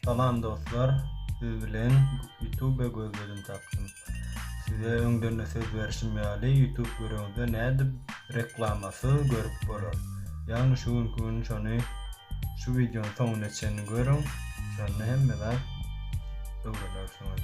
Salam dostlar, siz bilen YouTube gözledim tapdym. Size öňden de söz berişim ýaly YouTube görüňizde nädip reklamasy görüp bolar. Ýagny şu günki gün şony şu wideonyň soňuna çenli görüň. Şonda hemme zat öwrenersiňiz.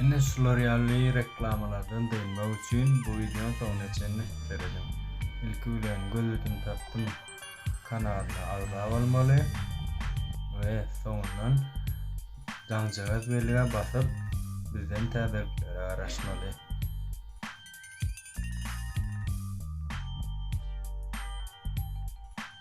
Ine şular ýaly reklamalardan dynmak üçin bu wideony soňuna çenli serediň. Ilki bilen gözledim tapdym kanalyna agza bolmaly we soňundan jaňjagaz belgä basyp bizden täzeliklere garaşmaly.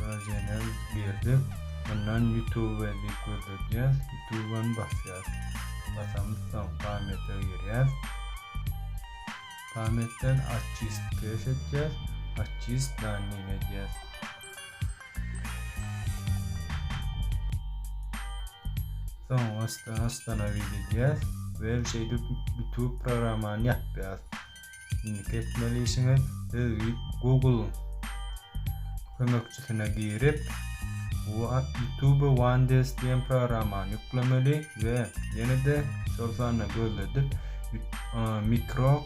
Razenem girdik. Mundan Youtube diýip gözledýäs. Youtube-any basýas. Basamyz soň pamýata girýäs. Pamýatdan Artist pes etýäs. Artist danyny edýäs. Soň astan-astana widedýäs we şeýdip Youtube programmany ýapýas. Indiki etmeli işiňiz siz Google kömekçisine girip YouTube Wandes diýen programmany ýüklemeli we ýene-de şol sanda gözledip mikro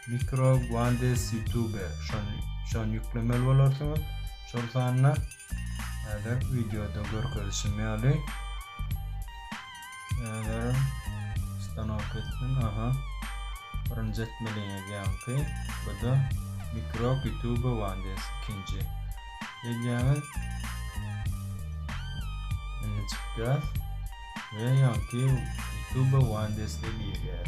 mikro Wandes YouTube şony şony ýüklemeli bolarsyňyz. Şol sanda Häzir wideoda görkezişim ýaly. Häzir stanok etdim. Aha. Birinji etmeliňiz ýaňky. Bu da mikro YouTube wandes ikinji. Edýäňiz. Indi çykýar. Ve ýaňky YouTube wandes diýilýär.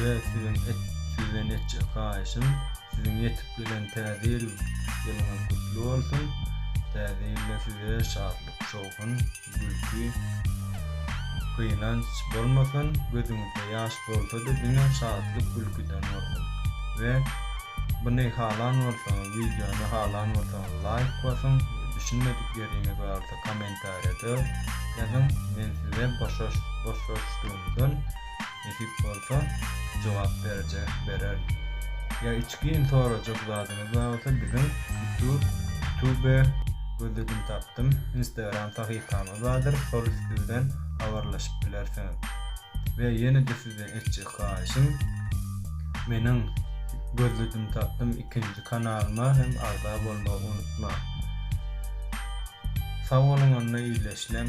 we siziň sizden etjek haýyşym siziň ýetip gelen täze ýyl ýylyňyz gutly bolsun täze ýylda size şatlyk şowhun gülki gynanç bolmasyn gözüňizde ýaş bolsady diňe şatlyk gülküden bolsun we buny halan bolsaňyz wideony halan bolsaňyz laýk basyň düşünmedik ýeriňiz barsa kommentariýada ýazyň men size boşaşdygymdan Nesip bolsa, jogap berjek, berer. Ýa içgin sorajak zadyňyz bar bolsa biziň Tube gözledim tapdym Instagram sahypamyz bardyr şol üsti bilen habarlaşyp bilersiňiz. We ýene-de sizden etjek haýyşym meniň gözledim tapdym ikinji kanalyma hem agza bolmagy unutmaň. Sag boluň onda ileşlem.